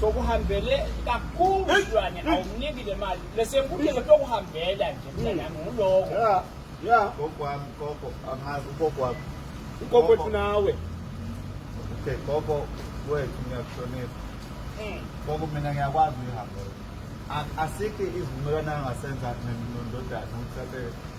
sokuhambele kakhulu mntwana awumniki le mali lesenkundleni sokuhambela nje mntanami nguloko ya ya kokwami koko angazi ukokwami ukoko wethu nawe okay koko wethu ngiyakuhlonipha hmm. koko mina ngiyakwazi uyihambela asikho izivumelwano angasenza nendodana ukuthi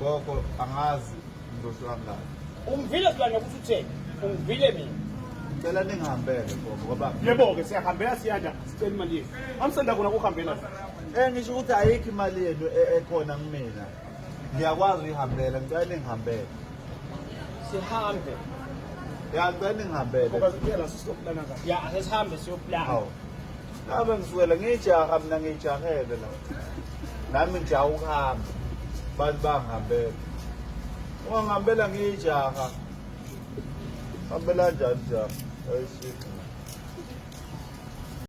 Gogo angazi ngizohlwa ngani. Ungivile silwane ukuthi utheni? Ungivile mina. Ngicela ningihambele gogo ngoba Yebo-ke siyahambela siyanda sicela imali yethu. Amsenda kona kuhambela. eh ngisho ukuthi ayikho imali yenu e- ekhona kumina. Ngiyakwazi uyihambela ngicela ningihambele. Sihambe. Ya ngicela ningihambele. Ngoba siphela sisokuplanaka. Ya asesihambe siyoplana. Hawu. Ngabe ngisukela ngijaha mina ngijahele la. Nami ngijaha ukuhamba. Abantu bangihambela. Uma ngihambela ngijaha. Hambela njani jaha? Ayishini.